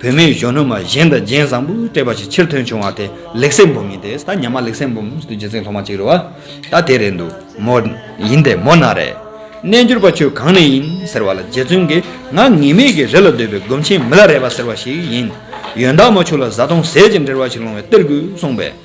བུད་མེད་གཞོན་ནུ་མ་གཞན་དང་རྒྱན་བཟང་པོས་སྤྲས་པ་ཞིག་ཕྱིར་ཐོན་བྱུང་བ་དེ་ལེགས་སེ་འབུམ་ཡིན་ཏེ་ད་ཉམས་མ་ལེགས་སེ་འབུམ་དུ་རྗེ་བཙུན་ལྷོ་མ་ཅིག་རེད་བ། ད་དེ་རེད་འདུག་མོ། ཡིན་ཏེ་མོ་ན་རེ། རྣལ་འབྱོར་པ་ཁྱོད་གང་ནས་ཡིན་ཟེར་བ་ལ་རྗེ་བཙུན་གྱིས་ང་ངེས་མེད་ཀྱི་རི་ལ་སྡོད་པའི་སྒོམ་ཆེན་མི་ལ་རས་པ་ཟེར་བ་ཞིག་ཡིན། ཡོན་བདག་མོ་ཁྱོད་ལ་བཟའ་བཏུང་ཟས་ཀྱི་འབྲེལ་བ་ཞིག་སློང་བའི་གཏེར་དགོས་གསུངས་པས།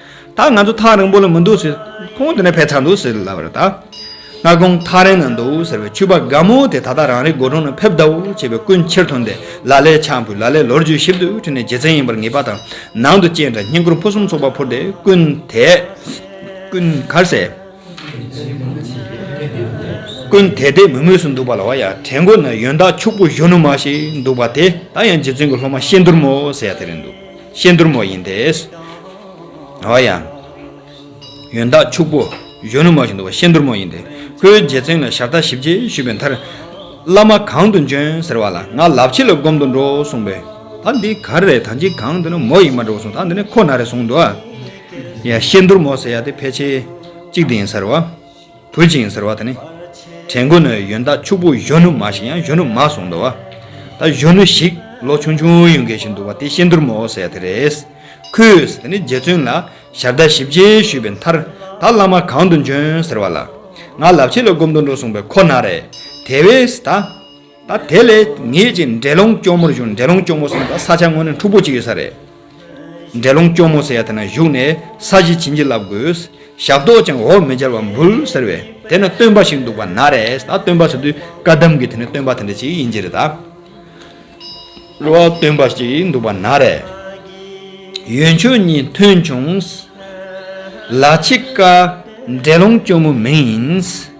ད་ང་ཚོ་ཐག་རིང་པོ་ལ་མི་འདུག་ཟེར། ཁོང་དེ་ནས་ཕེབས་ཚར་འདུག་ཟེར་ལབ་རེད། ད་ང་ཁོང་ཐག་རིང་ན་འདུག་ཟེར་བའི་ཕྱུ་པ་དགའ་མོ་དེ་ད་ལྟ་རང་རེའི་སྒོ་དྲུང་ན་ཕེབས་གདའ་འོ་བྱེད་པའི་སྐུ་མཆེར་ཐོན་ཏེ་ལ་ལས་ཆང་ཕུད་ལ་ལས་ལོ་རྒྱུས་ཞིབ་ཏུ་བྲིས་ནས་རྗེ་བཙན་ཡིན་པར་ངེས་པ་དང་ནང་དུ་སྐྱེས་འདྲ་བསྙེན་བཀུར་ཕུན་སུམ་ཚོགས་པ་ཕུལ་ཏེ་ཀུན་དེདཀུན་གར་སའི། ཀུན་དེ་དེ་མུས་མུས་སུ་འདུག་པ་ལ་བ་ཡ་གྲལ་མགོ་ན་ཡོན་བདག་ཕྱུག་པོ་གཞོན་ནུ་མ་ཞིག་འདུག་པ་དེ་ད་ཡང་རྗེ་བཙུན་གྱི་སློབ་མ་ཤེས་འདུར་མོ་ཟེར་ཡ་དེ་རེད་འདུག། ཤེས་མཐུར་མོ་ཡིན་ཏེ། འོ་ཡང། ཡོན་བདག་ཕྱུག་པོ་གཞོན་ནུ་མ་བཞིན་དུ་བ་ཤེས་མཐུར་མོ་ཡིན་ཏེ། ཁོའི་རྗེ་བཙུན་ལ་ཞབས་ལྟ་ཞིབ་ཅེས་ཞུས་པའི་མཐར། བླ་མ་གང་དུ་འབྱོན་ཟེར་བ་ལ་ང་ལབ་ཕྱི་ལ་སྒོམ་དུ་འགྲོ་གསུངས་པས། ད་འདི་ག་རེ་རེད་ད་འཇིགས་གང་འདི་ན་མོ་ཡིན་མ་འགྲོ་གསུངས་ད་འདི་ནས་ཁོ་ན་རེ་གསུངས། འོ་ཡ། ཤེས་མཐུར་མོ་ཟེར་ཡ་དེ་ཕལ་ཆེར་གཅིག་འདི་ཡིན་ཟེར་བ། བུ་བྱིངས་ཟེར་བ་དེ་ནི། དྲན་དགོས་ནི་ཡོན་བདག་ཕྱུག་པོ་གཞོན་ནུ་མ་ཞིག་ཡང་གཞོན་ནུ་མ་གསུངས་འདུག་ད་གཞོན་ནུ་ཞིག་ལོ་ཆུང་ཆུང་ཡོད་མཁན་ཞིག་འདུག་བ་དེ་ཤིན་དུར་མོ་ཟེར་དེ་རེད། ཁོས་དེ་ནི་རྗེ་བཙུན་ལ་ཞབས་བརྡ་ཞིབ་རྒྱས་ཞུས་པའི་མཐར། ད་བླ་མ་གང་དུ་འབྱོན་ཟེར་བ་ལ། ང་ལབ་ཆས་ལ་སྒོམ་དུ་འགྲོ་གསུངས་པས་ཁོ་ན་རེ། དེ་བས་ད། ད་དེ་ལས་ངེད་ཀྱིས་འདྲེ་ལོང་སྐྱོར་མོར་བཞུགས་འདྲེ་ལོང་སྐྱོར་མོ་གསུངས་པ་ས་ཆ་དངོས་ནི་འཁྲུག་པོ་གཅིག་ཡོད་ས་རེད། འདྲེ་ལོང་སྐྱོར་མོ་ཟེར་ཡ་དེ་ན་བཞུགས་ནས་ས་གཞི་བྱིན་གྱིས་བརླབས་དགོས། ཞབས་ཏོག་ཀྱང་འོག་མི་འབྱར་བར་འབུལ་ཟེར་བས་དེ་ན་སྟོན་པ་ཞིག་འདུག་པ་ན་རེ་ད་སྟོན་པ་ཟེར་དུས་བཀའ་གདམས་ཀྱི་དེ་ནི་སྟོན་པ་དེ་འདྲ་ཞིག་ཡིན་གྱི་རེད་ད། གླུ་བ་སྟོན་པ་ཞིག་འདུག་པ་ན་རེ། ཡོན་མཆོད་གཉིས་ཐོན་བྱུང། ལ་ཕྱི་བཀའ་འདྲེ་ལོང་སྐྱོར་མོ་མིང་ཡིན།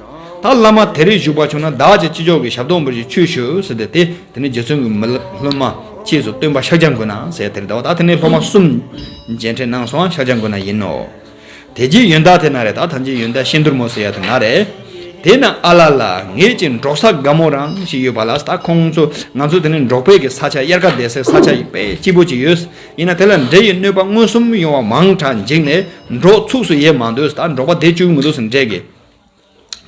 ད་བླ་མ་དེ་རིགས་བཞུགས་པ་བྱུང་ན་བདག་ཅག་ཅི་ལྕོགས་ཀྱི་ཞབས་ཏོག་འབུལ་ཅིག་ཆུ་ཞུ་ཟེར་ཏེ་དེ་ནི་རྗེ་བཙུན་གྱི་མི་སློབ་མ་གཅེས་སུ་སྟོན་པ་ཤཱཀྱ་མགོན་ན་བཟའི་དེར་བཟླ་བ་ད་དེ་ནི་སློབ་མ་གསུམ་མཇལ་འཕྲད་གནང་སོང་ཤཱཀྱ་མགོན་ན་ཡིན་ནོ། དེ་རྗེས་ཡོན་བདག་དེ་ན་རེ་ད་ཐམས་ཅད་ཡོན་བདག་གཤེན་དུར་མོ་ཟེར་ཡ་དེ་ན་རེ། དེ་ན་ཨ་ལ་ལ་ངེད་ཀྱི་འབྲོག་ས་དགའ་མོ་རང་ཞིག་ཡོད་པ་ལ་ད་ཁོང་ཚོ་ང་ཚོ་དེ་ནི་འབྲོག་བལ་གྱི་ས་ཆ་དབྱར་ཁ་འདས་སའི་ས་ཆ་ཡིན་པས་སྐྱིད་པོ་ཅིག་ཡོད་ཡིན་ན་དེ་ལ་འདྲེ་ཡི་གནོད་པ་མངོན་སུམ་ཡོང་བ་མང་དྲགས་འཇིགས་ནས་འབྲོག་ཚུགས་སུ་ཡེ་མ་འདོད་ད་འབྲོག་པ་བསྡད་བཅུག་མི་འདུག་ཟེར་འདྲེ་གི་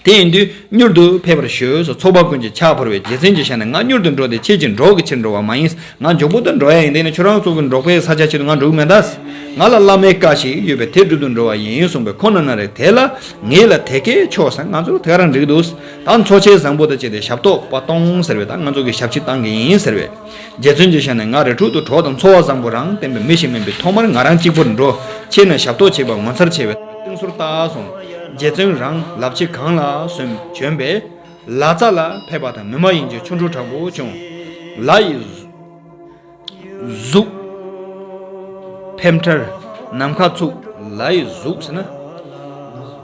དེ་ཡིན་དུས་མྱུར་དུ་ཕེབས་པར་ཞུ་སོགས་ཚོགས་པ་ཀུན་གྱིས་ཕྱག་འཁོར་བའི་རྗེས་ཟིན་གྱི་ཤ་ནས་ང་མྱུར་དུ་འགྲོ་དེ་ཁྱེད་ཀྱིས་འགྲོ་གི་ཕྱིར་འགྲོ་བ་མ་ཡིན། ང་འཇོག་པོ་དང་འགྲོ་ཡ་ཡིན་དེ་ནི་ཁྱོད་རང་སོགས་ཀྱིས་འབྲོག་པའི་ས་ཆ་ཆེད་དུ་ང་འགྲོ་གི་མེད་ད། ང་ལ་བླ་མའི་བཀའ་ཞིག་ཡོད་པས་དེ་སྒྲུབ་ཏུ་འགྲོ་བ་ཡིན་གསུངས་པས་ཁོང་ན་ན་རེ་དེ་ལ་ངེད་ལ་དེ་གས་ཆོག་ཟེར་ང་ཚོར་དེ་ག་རང་འགྲིག་འདུག་ད་མཚོ་ཆེན་བཟང་པོ་དང་བཅས་ཏེ་ཞབས་ཏོག་པ་གཏོང་ཟེར་བས་ད་ང་ཚོ་གིས་ཞབས་ཕྱི་བཏང་གི་ཡིན་ཟེར་བས། རྗེ་བཙུན་གྱིས་ཤར་ནས་ང་རེ་དྲུག་ཏུ་གྲོགས་དང་འཚོ་བ་བཟང་པོ་རང་བསྟན་པའི་མི་ཞིག་མིན་པས་ཐོག་མར་ང་རང་གཅིག་པུར་འགྲོ། ཕྱིར་ནས་ཞབས་ཏོག་བྱེད་པ་ངོ་མཚར་ཆེ་བས་སྟེང་ཟུར་བལྟ་སོང། རྗེ་བཙུན་རང་ལབ་ཆེ་གང་ལ་སོན་བྱོན་པས། ལ་ཙཱ་ལ་ཕེབས་པ་དང་ནུ་མ་ཡིན་གྱི་ཆོ་འཕྲུལ་དྲག་པོ་བྱུང། ལ་ཡི་གཟུགས། ཕེབས་མཐར་ནམ་མཁའ་ཚུགས། ལ་ཡི་གཟུགས་ཟེར་ན།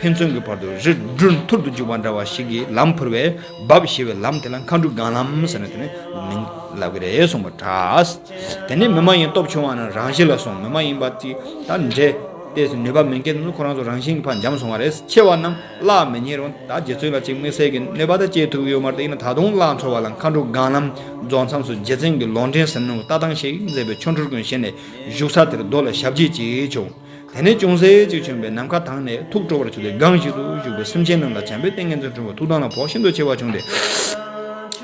ཕན་ཚུན་གྱི་བར་དུ་རི་སྒྲོན་ཐུར་དུ་འཇུག་པ་འདྲ་བ་ཞིག་གིས་ལམ་ཕུར་བས་འབབ་ཞེས་པའི་ལམ་དེ་ལ་མཁའ་འགྲུ་སྒང་ལམ་ཟེར་ནས་དེ་ནི་མིང་ལབ་ཀྱི་རེད་གསུངས་པ་འདྲ། དེ་ནི་མི་མ་ཡིན་སྟོབས་ཆུང་བ་རྣམས་རང་ཞི་ལ་སོང་མི་མ་ཡིན་པ་ཅིག་དང་འདྲེས་ཏེ་ནུས་པ་མི་འགེལ་ནས་ཁོ་རང་ཚོ་རང་བཞིན་གྱི་བར་འབྱམས་སོང་བ་རེད་ཆེ་བ་རྣམས་བརླག་མི་ཉན་རུང་ད་རྗེ་བཙུན་ལ་ཅིག་དམིགས་བསལ་གྱི་གནོད་པ་དང་བཅས་ཐུག་ཡོད་མ་རེད་ཡིན་ན་ད་དུང་བརླག་འཚོ་བ་ལ་མཁའ་འགྲུ་སྒང་ལམ་རྫོགས་མཚམས་སུ་རྗེ་བཙུན་གྱི་ལོག་འདྲེན་ཟེར་ནུ་ལྟ་སྟངས་ཤིག་མཛད་པའི་ཆོ་འཕྲུལ་ཀུན་བཞེས་ནས་བཞུགས་ས་དེར་རྡོ་ལ་ཞབས་རྗེས་ཅིག་བྱུང། དེ་ནས་ཅུང་ཟད་ཅིག་བྱོན་པས་ནམ་མཁའ་དྭངས་ནས་ཐུགས་སྤྲོ་བར་བྱུང་སྟེ་སྒང་ཞིག་ཏུ་བཞུགས་པས་སེམས་ཅན་རྣམས་ལ་བྱམས་པའི་ཏིང་ངེ་འཛིན་འཁྲུངས་པ་ཐུགས་དྭངས་ལ་བོགས་ཤིན་ཏུ་ཆེ་བ་བྱུང་སྟེ།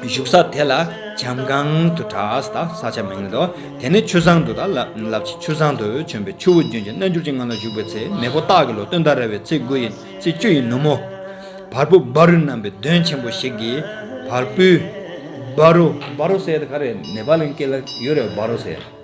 བཞུགས་ས་དེ་ལ་བྱམས་སྒང་དུ་གྲགས་དང་ས་ཆ་མིང་ལ་དོ། དེ་ནས་ཆུ་བཟང་དུ་དང་བསླབ་ཅིང་ཆུ་བཟང་དུ་བྱོན་པས་ཆུ་བོ་རྒྱུན་གྱི་རྣལ་འབྱོར་གྱི་ངང་ལ་བཞུགས་པའི་ཚེ་མེས་པོ་སྟག་གི་ལོ་སྟོན་ཟླ་རལ་བའི་ཚེས་དགུ་ཡི་ཚེས་བཅུ་ཡི་ནུབ་མོ། བར་སྤུ་སྦ་རུ་བསྣམས་པའི་གདོན་ཆེན་པོ་ཞིག་གིས་བར་སྤུའི། སྦ་རུ། སྦ་རུ་སེར་ག་རེ་ནེ་པ་ལའི་སྐད་ལ་ཡོད་རེད་བ་རུ་སེར།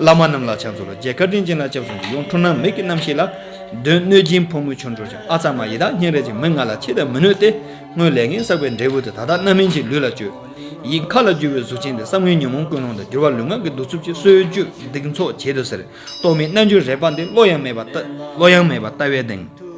བླ་མ་རྣམས་ལ་ཕྱག་འཚོ་ལ་རྒྱས་བཀའ་དྲིན་ཅན་ལ་སྐྱབས་སོང་གི་ཡོངས་འཁྲུངས་ནམ་མེད་ཀྱི་རྣམ་ཤེས་ལ། དོན་གནོད་སྦྱིན་ཕོ་མོའི་ཆོ་འཕྲུལ་ཅན་ཨ་ཙར་མ་ཡི་དྭགས་སྙིང་རལ་ཅན་མི་ང་ལ་ཆེས་དད་མི་ནུས་ཏེ། སྔོན་ལས་ངན་བསགས་པའི་འབྲས་བུ་དེ་ད་ལྟ་རྣམ་སྨིན་གྱི་ལུས་ལ་བཅོས། ཡིད་མཁའ་ལ་རྒྱུ་བའི་གཟུགས་ཅན་དེ་བསམ་ངན་ཉོན་མོངས་ཀུན་སློང་དང་འགྱུར་བ་ལུས་ངག་གི་གདུག་རྩུབ་ཀྱིས་གསོད་གཅོད་སྡིག་འཚོགས་བྱེད་དུ་ཟེར། རྟོག་མེད་རྣལ་འབྱོར་རལ་པ་འདི་བློ་ཡང་མེད་པ་ལྟ་བའི་གདེང།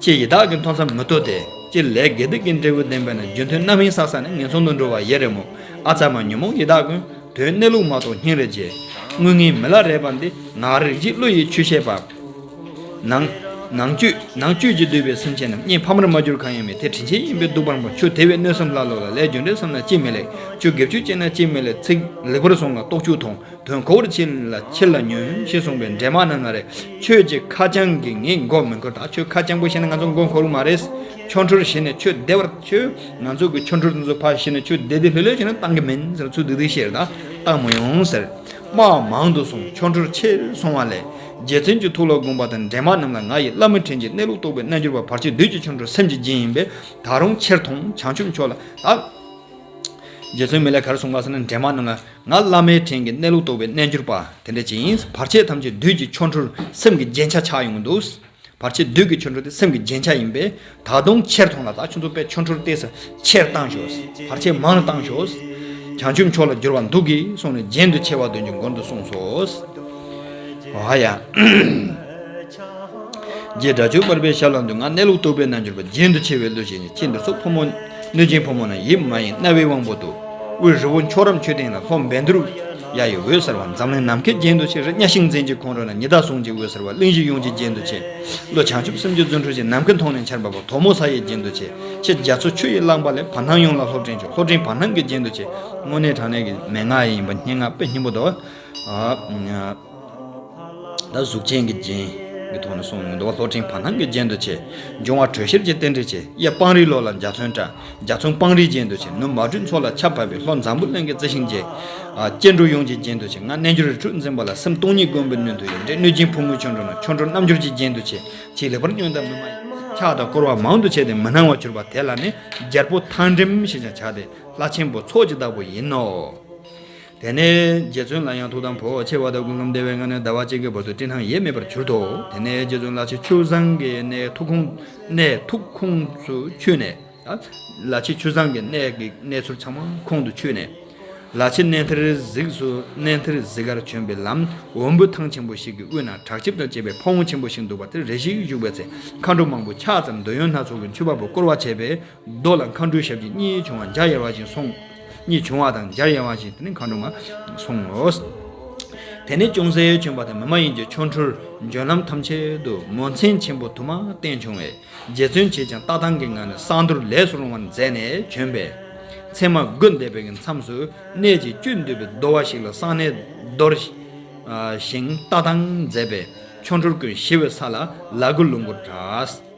ཅེས་ཡི་དྭགས་ཀྱི་མཐོང་ས་མི་ཐོབ་སྟེ། སྤྱིར་ལས་དགེ་སྡིག་གི་འབྲས་བུ་བདེན་པས་ན་རྒྱུ་མཐུན་རྣམ་གཡེང་ས་ས་ནས་ངན་སོང་དུ་འགྲོ་བ་ཡེ་རེ་མོ། ཨ་ཚ་བ་ཉོན་མོངས་ཡི་དྭགས་ཀུན། དོན་གནས་ལུགས་མ་རྟོགས་སྙིང་རེ་རྗེ། དངོས་ངན་མི་ལ་རས་པ་འདི། ངག་རིག་བྱིས་བློ་ཡི་ཆུ་ཤེལ་བབས། ནང། ནང་བཅུད། ནང་བཅུད་ཀྱིས་བསྡུས་པའི་སེམས་ཅན་རྣམས་གཉིད་ཕ་མར་མ་གྱུར་གང་ཡང་མེད་དེ་དྲིན་ཆེན་ཡིན་པས་སྡུག་པར་འབོད་ཆུ་དེ་བས་གནོད་སེམས་ཀླ་ཀློ་ལ་ལས་རྒྱུ་འབྲས་བསམ་ན་ཅི་མི་ལེགས་ཆུ་འགེབ་ཆུ་བཅད་ན་ཅི་མི་ལེགས་ཚིག་ལེགས་པར་བཟུང་ལ་རྟོག་ཆུ་འཐུང། དོན་འཁོར་ཅི་ལ་ཁྱེར་ལ་ཉོན་ཞེས་གསུངས་པའི་འདྲེན་མ་རྣམས་ང་རེད་ཁྱོད་ཀྱི་ཁ་བྱང་གིས་ངའི་མགོ་མི་འཁོར་ད་ཁྱོད་ཁ་བྱང་པོ་ཤེས་ན་ང་ཚོ་མགོ་འཁོར་མ་རེད་ཁྱོད་འཕྲུལ་བྱས་ནས་ཁྱོད་བདེ་བར་ཁྱོད་ང་ཚོ་གི་ཁྱོད་འཕྲུལ་དེ་ཚོ་ཕར་བཤིག་ནས་ཁྱོད་བདེ་བདེ་ལྷོད་ལྷོད་བྱས་ན་བཏང་གི་མིན་ཟེར་ཚུལ་དེ་དུས་ཤེས་རེད་ད་བཏང་མ་ཡོང་ཟེར། སྨྲ་བ་མང་དུ་སོང་ཁྱོད་འཕྲུལ་ཆེ་སོང་བ་ལས་རྗེ་བཙུན་གྱི་ཐུགས་ལ་དགོངས་པ་དང་འདྲེན་མ་རྣམས་ལ་ང་ཡི་བླ་མ་དྲིན་གྱི་གནས་ལུགས་རྟོགས་པའི་རྣལ་འབྱོར་པ་བར་ཆད་བདུད་ཀྱི་ཆོ་འཕྲུལ་སེམས་ཀྱི་རྒྱན་ཡིན་པས་ད་རུང་ཁྱེར་ཐོང་བྱང་ཆུབ་མཆོག་ལ་དྭགས། རྗེ་བཙུན་མི་ལས་གར་སོང་བ་ཟེར་ན་འདྲེན་མ་རྣམས་ལ། ང་བླ་མའི་དྲིན་གྱིས་གནས་ལུགས་རྟོགས་པའི་རྣལ་འབྱོར་པ་དེ་འདྲ་ཅིག་ཡིན། བར་ཆད་ཐམས་ཅད་བདུད་ཀྱི་ཆོ་འཕྲུལ་སེམས་ཀྱི་རྗེན་ཆ་ཆགས་ཡོང་གི་འདུག། བར་ཆད་བདུད་ཀྱི་ཆོ་འཕྲུལ་དེ་སེམས་ཀྱི་རྗེན་ཆ་ཡིན་པས། ད་དུང་ཕྱིར་ཐོན་ལ་ད་ཆུ་འཛོམས་པའི་ཆོ་འཕྲུལ་བལྟས་ས་ཕྱིར་བཏང་ཞོག། བར་ཆད་མང་ན་བཏང་ཞོག། བྱང་ཆུབ་མཆོག་ལ་བསྒྱུར་བར་འདུག་གིས་གསུངས་ནས་རྗེན་དུ་ཆེ་བ་དོན་གྱི་མགོན་དུ་གསུངས་སོ། ཨ་ཡ། རྗེས་དགྲ་ཆོས་འབར་པའི་ཞབས་ལ་འདུད་ང་གནས་ལུགས་རྟོགས་པའི་རྣལ་འབྱོར་པ་རྒྱན་དུ་ཆེ་བའི་གླུ་བཞེས་ནས་ཁྱེད་འདི་སོགས་ཕོ་མོ། གནོད་སྦྱིན་ཕོ་མོ་ན་ཡིད་མ་ཡེངས་རྣ་བའི་དབང་པོ་དུ་དབུས་རི་བོ་མཆོག་རབ་མཆོད་སྟེང་ན་ལྷོ་འབན་དུར་ཡ་ཡི་འོད་ཟེར་བ་འཛམ་གླིང་ནམ་མཁའི་རྒྱན་དུ་ཆེ་རི་གཉའ་ཤིང་འཛིན་གྱི་ཁོང་ཁྲོ་ན་ཉི་ཟླ་ཟུང་གཅིག་འོད་ཟེར་བ་གླིང་བཞི་ཡོངས་ཀྱི་རྒྱན་དུ་ཆེ། ཀླུ་བྱང་ཆུབ་སེམས་ཀྱི་རྫུ་འཕྲུལ་ཅན་ནམ་མཁའི་མཐོངས་ནས་འཆར་འབབ་པ་དོག་མོ་ས་ཡི་རྒྱན་དུ་ཆེ། ཁྱེད་རྒྱ་མཚོ་ཆུ་ཡིས་བླངས་པ་ལས་བར་སྣང་ཡོངས་ལ་ལྷོ་སྤྲིན་ཆུ་ལྷོ་སྤྲིན་བར་སྣང་གི་རྒྱན་དུ་ཆེ། སྔོན་གནས་དྲང་གནས་ཀྱི་མན་ངག་ཡིན་པ་སྙན་ངག་དཔེ་སྙིང་པོ་དང། ལ་གཟུགས་ཅན་གྱི་རྒྱན། གྱི་ཐོག་ནས་སོང་ནས་འདུལ་བ་ལྷོ་སྤྲིན་བར་སྣང་གི་རྒྱན་དུ་བྱས། འབྱུང་བ་དྲོད་གཤེར་གྱི་རྟེན་འབྲེལ་བྱས། གཡས་སྤང་རིའི་ལོ་ལ་འཇའ་ཚོན་བཀྲ། འཇའ་ཚོན་སྤང་རིའི་རྒྱན་དུ་བྱས། ནུབ་མ་སྦྲུལ་མཚོ་ལ་ཆར་བབས་པས་ལྷོ་འཛམ་བུ་གླིང་གི་རྩི་ཤིང་རྒྱས། སྐྱེ་འགྲོ་ཡོངས་ཀྱི་རྒྱན་དུ་བྱས། ང་རྣལ་འབྱོར་རི་ཁྲོད་འཛིན་པ་ལ་སེམས་སྟོང་ཉིད་མགོན་པོའི་སྣོད་དུ་ཡོད། འདྲེ་གནོད་སྦྱིན་ཕོ་མོའི་ཆོ་འཕྲུལ་ན་ཆོ་འཕྲུལ་རྣམ་འབྱོར་གྱི་རྒྱན་དུ་བྱས། ཅེས་ལེགས་པར་སྙིང་དང་མི་མ་ཡིན། ཕྱག་དང་བསྐོར་བ་མང་དུ་བྱས་ཏེ་མི་སྣང་བར་གྱུར་པ་དེ་ལ་ནི་རྒྱལ་པོ་ཐང་འགྲིམ་ཞེས་ཀྱང་བྱ་སྟེ་ལྷ་ཆེན་པོ་ཚོགས་ཀྱི་བདག་པོ་ཡིན་ནོ། དེ་ནས་རྗེ་བཙུན་ལ་ཡང་ཐུགས་དམ་བོ་ཆེ་བ་དང་ཀུན་ཁམས་བདེ་བའི་ངང་ནས་ཟླ་བ་གཅིག་གི་བར་དུ་སྤྲིན་དང་ཡེ་མེད་པར་གྱུར་ཏོ། དེ་ནས་རྗེ་བཙུན་ལ་ཆེ་ཆུ་བཟང་གི་གནས་ཐུགས་ཁོང་གནས་ཐུགས་ཁོང་སུ་ཆུད་ནས། ལ་ཆེ་ཆུ་བཟང་གི་གནས་ཀྱི་གནས་ཚུལ་ཚང་མ་ཁོང་དུ་ཆུད་ནས། ལ་ཆེ་གནས་ཐེར་གཟིགས་སུ་གནས་ཐེར་གཟིགས་ཀར་བྱོན་པའི་ལམ་འོམ་བུ་ཐང་ཆེན་པོ་ཞིག་གི་དབུས་ན་བྲག་ལྕིབས་དང་བཅས་པའི་ཕ་བོང་ཆེན་པོ་ཞིག་འདུག་པ་དེར་རེ་ཞིག་བཞུགས་པའི་ཚེ་མཁའ་འགྲོ་མང་པོ་ཕྱག་ཙམ་འདོད་ཡོན་སྣ་ཚོགས་ཀྱི་མཆོད་པ་པོ་བསྐོར་བ་བྱས་པས་རྡོ་ལ་མཁའ་འགྲོའི་ཞབས་ཀྱིས་གཉིས་བྱུང་བ་འཇའ་ཡལ་བ་བཞིན་སོང། གཉིས་བྱུང་བ་དང་འཇའ་ཡལ་བ་བཞིན་དེ་ནི་མཁའ་འགྲོ་མ་སོང་ངོ། དེ་ནས་ཅུང་ཟད་བྱོན་པ་དང་མི་མ་ཡིན་གྱི་ཆོ་འཕྲུལ་འབྱོན་ལམ་ཐམས་ཅད་དུ་མོ་མཚན་ཆེན་པོ་དུ་མ་བསྟན་བྱུང་བས་རྗེ་བཙུན་བྱེད་ཅིང་ལྟ་སྟངས་ཀྱི་ངང་ནས་གསང་འདུར་ལས་སུ་རུང་བར་མཛད་ནས་བྱོན་པས། མཚན་མ་དགུ་འདས་པའི་གི་མཚམས་སུ་གནས་ཀྱི་བཅུད་འདུས་པའི་རྡོ་བ་ཞིག་ལ་གསང་གནས་རྡོར། ཞིང་ལྟ་སྟངས་མཛད་པས་ཆོ་འཕྲུལ་ཀུན་ཞི་བའི་ས་ལ་ལ་གུ་ལུང་གུར་གྲགས།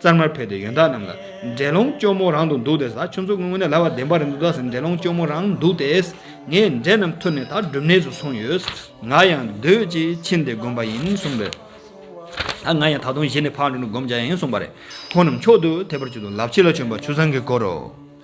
གཙང་མར་ཕེབས་ཏེ་ཡོན་བདག་རྣམས་ལ། འདྲེ་ལོང་སྐྱོ་མོ་རང་དུ་འདུག་སྟེ། ཟ་ཆུ་འཛུགས་སྔོན་ནས་ལ་བ་བདེན་པ་རིན་དུ་བདག་ཟེར་འདྲེ་ལོང་སྐྱོ་མོ་རང་འདུག་སྟེ། ངས་འདྲེ་རྣམས་ཐུར་ནས་ད་སྒྲུབ་གནས་སུ་སོང་ཡོད། ང་ཡང་སྡོད་ཅིག་ཕྱིན་ཏེ་བསྒོམ་པ་ཡིན་གསུངས་པས། ད་ང་ཡང་ད་དུང་གཞི་ནས་ཕར་འགྲོ་ནས་བསྒོམ་བྱ་ཡིན་གསུངས་པ་རེད། ཁོང་རྣམས་མཆོག་ཏུ་དད་པར་གྱུར་ཏོ་ལབ་ཕྱི་ལ་བྱོན་པ་ཆུ་བཟང་གི་སྐོར་རོ།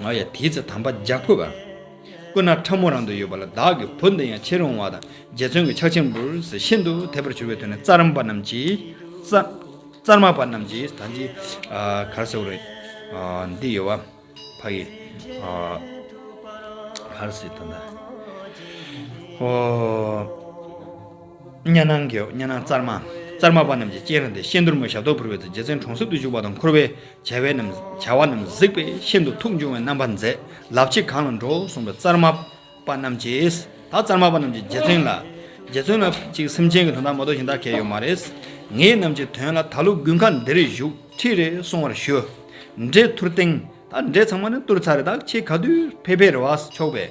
ང་ཡང་དེའི་ཚེ་དམ་པ་འཇའ་ཕུར་པ། སྐུ་ན་ཕྲ་མོ་རང་དུ་ཡོད་པ་ལ་བདག་གི་བུ་འདི་ཡང་ཕྱིར་འོང་བ་དང་རྗེ་བཙུན་གྱི་ཕྱག་ཆེན་པོར་ཟེར་ཤིན་ཏུ་དད་པར་གྱུར་པའི་དོན་ནི་རྩར་མ་པ་རྣམས་ཀྱིས། རྩར་མ་པ་རྣམས་ཀྱིས་ད་ཅི་གར་ཟེར་བ་རེད། འདི་ཡོད་བ། ཕ་ཡི། གར་ཟེར་ད། གཉའ་ནང་གི་གཉའ་ནང་ཙར་མ། ཙར་མ་པ་རྣམས་ཀྱི་སྤྱན་རང་སྟེ་ཤེལ་འདོར་མོ་ཞབས་ཏོག་ཕུར་བའི་ཚེ་རྗེ་བཙུན་གྲོང་གསེབ་ཏུ་བཞུགས་པ་དང་འཁོར་བའི་བྱ་བ་རྣམས་གཟིགས་པས་ཤིན་ཏུ་ཐུགས་འབྱུང་བའི་རྣམ་པར་མཛད་ལབ་ཅིག་གང་ལ་འགྲོའོ་གསུངས་པས་ཙར་མ་པ་རྣམས་ཀྱིས་ད་ཙར་མ་པ་རྣམས་ཀྱིས་རྗེ་བཙུན་ལ། རྗེ་བཙུན་ལ་ཅིག་སེམས་ཅན་གྱི་དོན་དག་མ་རྟོགས་ཤིང་བདག་གལ་ཡོད་མ་རེད། ངེད་རྣམས་ཀྱི་དོན་ལ་ད་ལོ་དགུན་ཁ་འདིར་བཞུགས་ཁྲིད་རེ་གསུང་བར་ཞུ། འདྲེ་ཐུར་སྟེང། ད་འདྲེ་ཚང་མ་ནི་བཏུར་ཚར་རེད་ད་ཁྱེད་ག་དུས་ཕེབས་ཕེབས་རེ་བ་ཆོག་པས།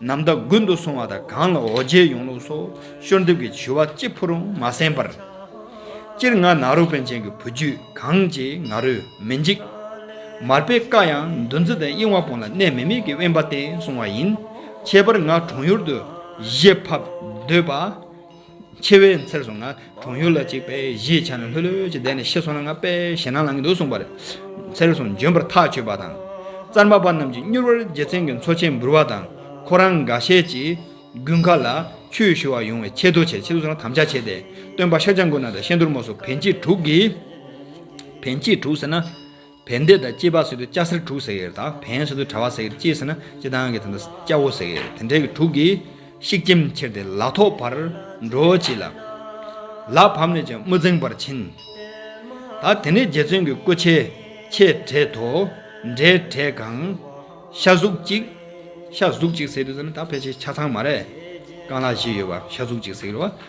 ནམ་ཟླ་དགུན་དུ་སོང་བ་དང་གང་ལ་འོ་བརྒྱལ་ཡོང་ལུགས་སོགས་ཤོར་འདེབས་ཀྱི་བྱུས་བ་གཅིག་ཕུ་རུང་མ་གསན་པར། སྤྱིར་ང་ནག་རུ་པཎ་ཆེན་གྱི་བུ་རྒྱུད་གང་ཅི་ང་རུས་མི་འཇིག། མར་པའི་བཀའ་ཡང་འདུ་འཛི་དང་གཡེང་བ་པོ་ལ་གནས་མི་མེད་ཀྱི་དབེན་པ་བསྟེན་སོང་བ་ཡིན། ཁྱད་པར་ང་གྲོང་ཡུར་དུ་གཞས་ཕབ་སྡོད་པ། འཆི་བའི་མཚེར་སོང་ན་གྲོང་ཡུལ་ལ་གཅིག་པས་གཞིས་ཆགས་ནས་ལྷོད་ལྷོད་ཀྱིས་བསྡད་ནས་ཤི་སོང་ན་ང་པས་ཞེད་སྣང་ལངས་ཀྱི་འདུག་གསུངས་པ་རེད། མཚེར་སོང་འབྱོན་པར་ཐག་ཆོད་པ་དང། རྩར་མ་པ་རྣམས་ཀྱིས་མྱུར་བར་རྒྱལ་མཚན་གྱི་མཚོ་ཆེན་འབུར་བ་དང། ཁོ་རང་འགའ་ཤས་ཀྱིས་དགུན་ཁ་ལ་ཆུའི་ཤུ་བ་ཡོང་བའི་ཆེད་དུ་ཆེད་དུ་དམ་བཅའ་བྱས་ཏེ་སྟོན་པ་ཤཱཀྱ་མགོན་ན་དང་ཤེས་འདུར་མོ་སོགས་བན་གྱི་དྲུག་གིས། བན་གྱི་དྲུག་ཟེར་ན། བན་དེ་དང་སྐྱེས་པ་སྲིད་དུ་སྐྱ་སེར་དྲུག་ཟེར་ཡེར་དང་བན་སྲིད་དུ་གྲ་བ་ཟེར་ཡེར་སྐྱེས་སྲིད་ན་སྐྱེས་ཐང་གི་ཐང་དང་སྐྱ་བོ་ཟེར་ཡེར་དེ་འདྲེ་གི་དྲུག་གིས་ཤིག་སྐྱེམ་ཁྱེར་ཏེ་ལག་ཐོག་བར་འགྲོ་བྱེད་ལ། ལག་བམ་ནས་ཀྱང་དམུ་རྫིང་བར་ཕྱིན། ད་དེ་ནས་རྗེ་བཙུན་གྱི་སྐུ་ཆེ་ཆེ་བྲེས་དོ། འདྲེ་བྲེས་གང། ཤ་གཟུགས་གཅིག། ཤ་གཟུགས་གཅིག་ཟེར་དུས་ཟེར་ན་ད་ཕལ་ཆེར་ཆ་ཚང་མ་རེད། རྐང་ལག་བཞི་ཡོད་པ་ཤ་གཟུགས་གཅིག་ཟེར་བ།